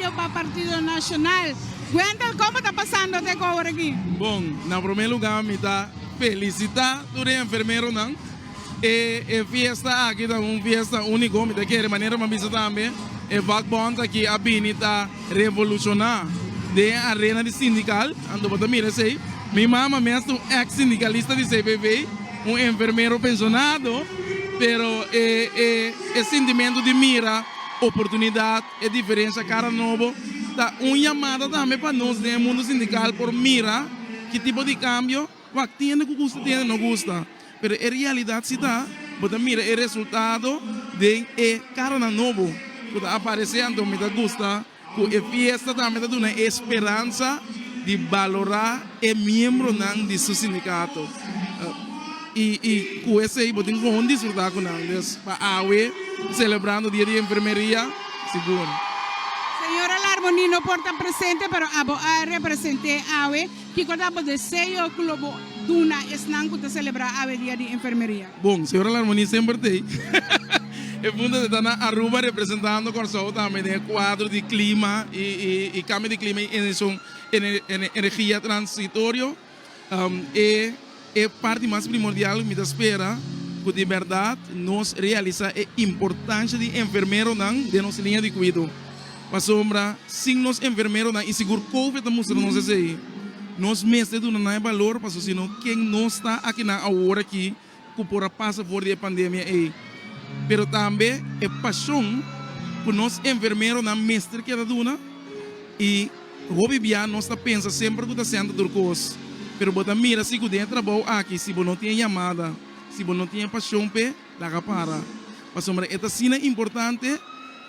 Yo pa Partido Nacional. Wendel como ta pasando te cu awor aki? Bon, na prome luga mi ta felicita tur e enfermeronan. E e fiesta aki ta un fiesta unico. Mi ta kere manera mi a bisa tambe e vakbond aki a bini ta revoluciona den e arena di sindical. Anto bo ta mira esey. Mi mama mes ta un ex sindicalista di CPV, un enfermero pensionado, pero e e e sintimento di mira oportunidad E diferensia Kara Nobo ta un yamada tambe pa nos den e mundo sindikal por mira ki tipo di kambio ku a tende ku gusta tende no gusta. Pero e realidat si ta bo ta mira e resultado den e karanan nobo ku ta aparesé anto mi ta gusta ku e fiesta tambe ta duna e speransa di balorá e miembronan di su sindikato. Y y cu esey bo tin con disfruta cu nan. Dus pa awe celebrando dia di enfermeria segun. Señora Larmoni no por ta presente pero abo a represente awe. Kico ta bo deseo cu lo bo duna esnan cu ta celebra awe dia di enfermeria? Bon, Señora Larmoni semper ta ey. E punto ta na Aruba representando Corsou tambe den e cuadro di clima y y cambio di clima y energia transitorio. E e parti mas primordial ku mi ta spera, ku di bèrdat nos realisá e importansha di enfermeronan den nos liña di kuido. Pasobra sin nos enfermeronan, i sigur Covid ta mustra nos esei, nos mester duna nan e balor, pasobra si no ken nos ta akinan awor aki? ku por a pasa for di e pandemia ei, pero tambe e pashon ku nos enfermeronan mester keda duna i hopi bia nos ta pensa semper ku ta sènta tur kos. Pero bo ta mira si ku den e trabou aki si bo no tin e yamada, si bo no tin e pashon p'e, laga para. Pasobra e ta asina importante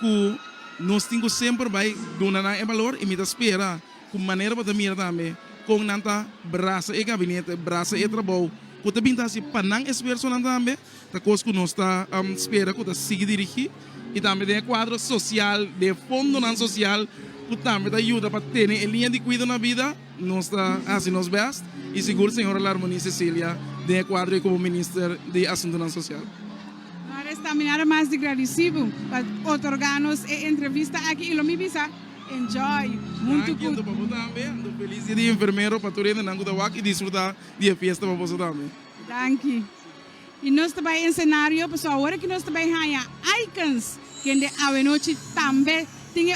ku nos tin ku semper bai duna nan e balor i mi ta spera, Ku manera bo ta mira tambe kon nan ta brasa e gabinete, brasa e trabou ku ta bin ta hasi pa nan esfuersonan tambe, ta kos ku nos ta spera ku ta sigui dirigí, i tambe den e kuadro sosial den e fondonan sosial ku tambe ta yuda pa tene e liña di kuido na bida, nos ta hasi nos bèst i sigur señora Larmonie Cecilia den e kuadro ei komo Minister di Asuntunan Sosial. Lo restamina ta mas di gradisibu pa otorgá nos e entrevista aki i lo mi bisa. Enjoy huntu cu. Danki pa bo tambe. Ando feliz dia di enfermero pa tur hende nan cu ta wak y disfruta di e fiesta pa boso tambe. Danki. Y nos ta bay en scenario pasobra awor aki nos ta bay haya icons kende Avenochi tambe tin e.